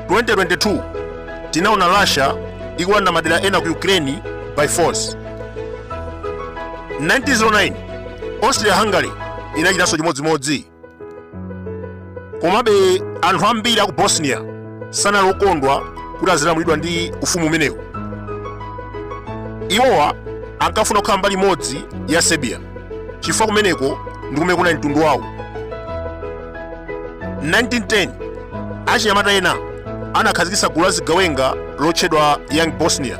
2022 tinaona russia ikulanda madera ena ku ukraine by force 1909 austria hungary inachitanso chimodzimodzi komabe anthu ambiri aku bosnia sanali okondwa kuti azilamulidwa ndi ufumu umenewu iwowa ankafuna kukhala mbali imodzi ya serbia chifukwa kumeneko ndi kumene kunali mtundu wawo 1910 achinyamata ena anakhazikitsa gulu la zigawenga lotchedwa young bosnia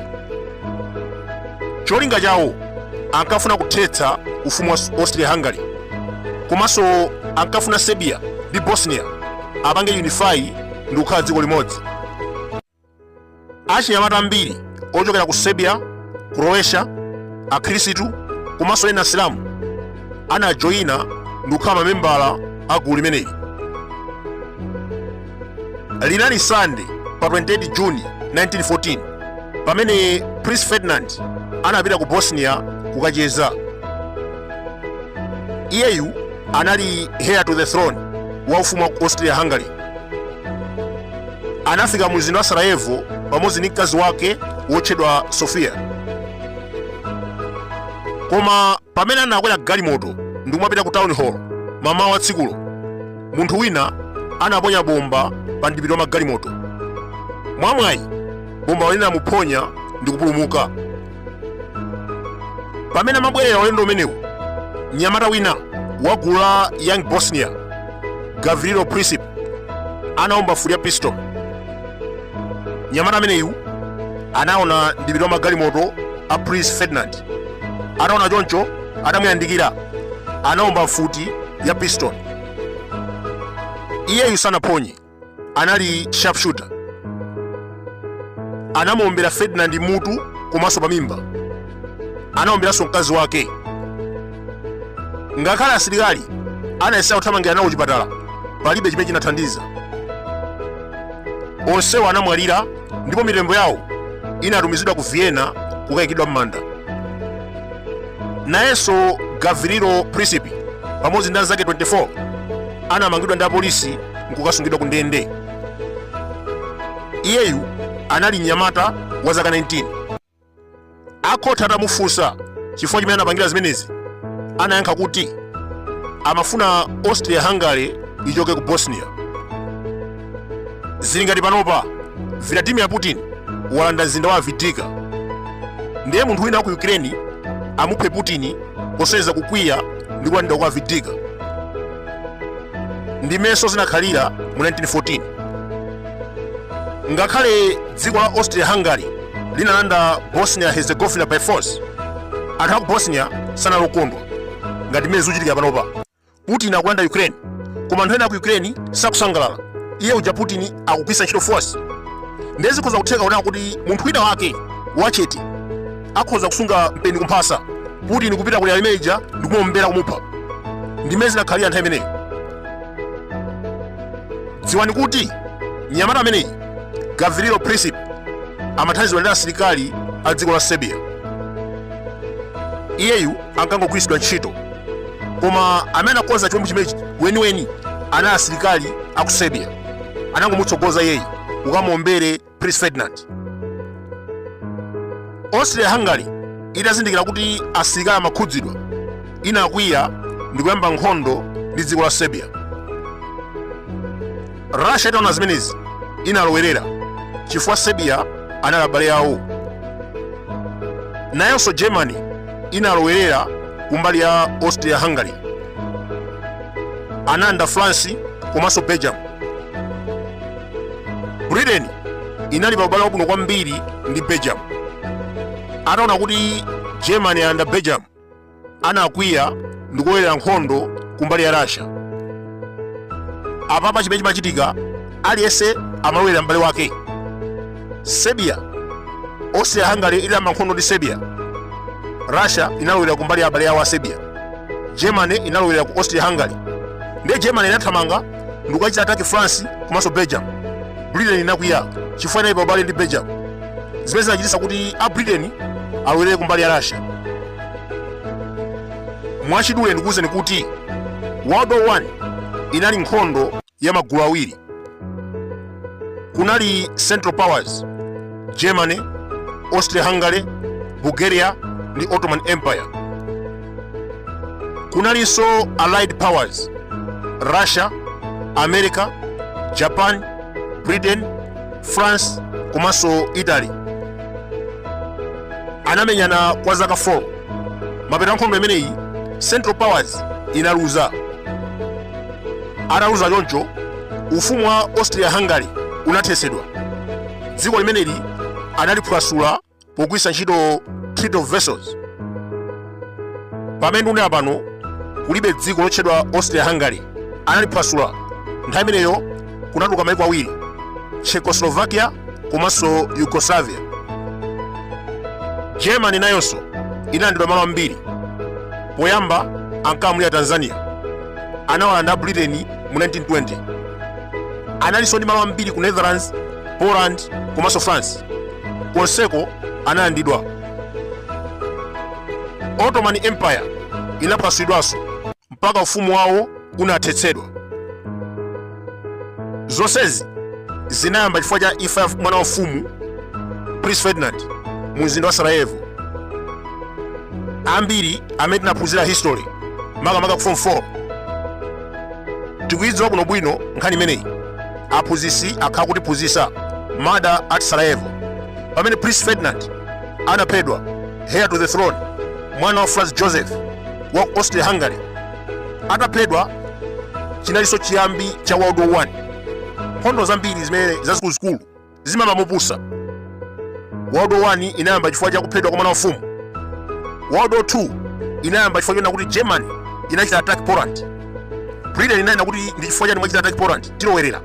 cholinga chawo ankafuna kuthetsa ufumu wa austria hungary komanso ankafuna serbia ndi bosnia apange unify ndi kukhala dziko limodzi achinyamata ambiri ochokera ku serbia croatia akhristu komanso ena asilamu anajoyina ndi kukhala mamembala a gulu limeneli linali sande pa 28 juni 1914 pamene prince ferdinand anapita ku bosnia kukacheza iyeyu anali heir to the throne wa ufumu wa ku austria hungary anafika mu mzinda wa sarajevo pamodzi ndi mkazi wake wotchedwa sofia koma pamene anakwera galimoto ndi kumapita ku town hall mamawa wa tsikulo munthu wina anaponya bomba pa mdipiti wa magalimoto mwamwayi bombalo linamuphonya ndi kupulumuka pamene amabwerera ulendo umenewu mnyamata wina wa gulu la young bosnia gavrilo princip anaomba futi ya pistol mnyamata ameneyu anaona mdipiti wa magalimoto a prince ferdinand ataona choncho atamuyandikira anaomba futi ya pistol iyeyu sanaphonye anali sharpshooter anamuombera ferdinand mutu komanso pamimba anaomberanso mkazi wake ngakhale asilikali anayesera kuthamangira nawo kuchipatala palibe chimene chinathandiza onsewo anamwalira ndipo mitembo yawo inatumizidwa ku vienna kukayikidwa m'manda nayenso gavrilo princip pamodzi ndi anzake 24 anamangidwa ndi apolisi nkukasungidwa ku ndende iyeyu anali mnyamata wa zaka 19 akhoti atamufunsa chifukwa chimene anapangira zimenezi anayankha kuti amafuna austria hungary ichoke ku bosnia zili ngati panopa vladimir putin walanda mzinda wa Avdiivka ndiye munthu wina wa ku ukraine amuphe putin posonyeza kukwiya ndi kulandidwa kwa Avdiivka ndi mmenenso zinakhalira mu 1914 ngakhale dziko la austria hungary linalanda bosnia herzegovina by force anthu aku bosnia sanali okondwa ngati mmene zikuchitika panopa Putin akulanda Ukraine koma anthu ena aku Ukraine sakusangalala. Iye uja Putin akugwiritsa ntchito force. Ndiye zikhoza kutheka kunena kuti munthu wina wake wachete akhoza kusunga mpeni kumphasa Putin kupita ku area imene ija ndi kumuombera kumupha. Ndi mmene zinakhalira nthawi imeneyo. Dziwani kuti mnyamata ameneyi Gavrilo Princip amathandizidwa ndi asilikali a dziko la Serbia. Iyeyu ankangogwiritsidwa ntchito koma amene anakonza chiwembu chimenechi weniweni anali asilikali a ku serbia anangomutsogoza iyeyu ukamuombere prince ferdinand austria hungary itazindikira kuti asilikali amakhudzidwa inakwiya ndikuyamba nkhondo ndi dziko la serbia russia itaona zimenezi inalowerera chifukwa serbia anali abale awo nayonso germany inalowerera kumbali ya austria hungary anayamba france komanso belgium britain inali pa ubale wabwino kwambiri ndi belgium ataona kuti germany ayamba belgium anakwiya ndi kulowerera nkhondo kumbali ya Russia. Apapa chimene chimachitika aliyense amalowerera m'bale wake. Serbia, Austria-Hungary idayamba nkhondo ndi Serbia. Russia inalowera kumbali ya abale awo a Serbia. Germany inalowera ku Austria-Hungary. Ndiye Germany inathamanga ndikukachita ataki France komanso Belgium. Britain inakwiya chifukwa inali pa ubale ndi Belgium. zimene zinachititsa kuti a britain alowelere kumbali ya russia mwachidule ndikuwuzeni kuti world war 1 inali nkhondo ya magulu awiri kunali central powers germany austria hungary bulgaria ndi ottoman empire kunalinso allied powers russia america japan britain france komanso italy anamenyana kwa zaka 4 mapeto a nkhondo imeneyi central powers inaluza ataluza choncho ufumu wa austria hungary unathetsedwa dziko limeneli analiphwasula pogwiritsa ntchito treaty of versailles pamene ndunena pano kulibe dziko lotchedwa austria hungary analiphwasula nthawi imeneyo kunatuluka maiko awiri czechoslovakia komanso yugoslavia germany nayonso inalandidwa malo ambiri poyamba ankalamulira tanzania anawalanda britain mu 1920 analinso ndi malo ambiri ku netherlands poland komanso france konseko analandidwa ottoman empire inaphwasulidwanso mpaka ufumu wawo unathetsedwa zonsezi zinayamba chifukwa cha imfa ya mwana wa mfumu prince ferdinand mu mzinda wa sarajevo ambiri amene tinaphunzira history makamaka ku form 4 tikuyidziwa bwinobwino nkhani imeneyi aphunzitsi akhala akutiphunzitsa murder at sarajevo pamene prince ferdinand anaphedwa heir to the throne mwana wa franz joseph wa ku austria hungary ataphedwa chinalinso chiyambi cha world war 1 nkhondo zambiri zimene zazikuluzikulu zimayamba mopusa. World War 1 inayamba chifukwa cha kuphedwa kwa mwana wa mfumu. World War 2 inayamba chifukwa chonena kuti Germany inachita attack Poland. Britain inanena kuti ndi chifukwa chani mwachita attack Poland tilowerera.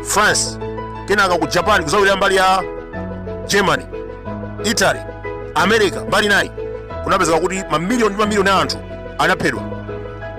France kenaka ku Japan kuzalowerera mbali ya Germany, Italy, America mbali nayi kunapezeka kuti mamiliyoni ndi mamiliyoni a anthu anaphedwa.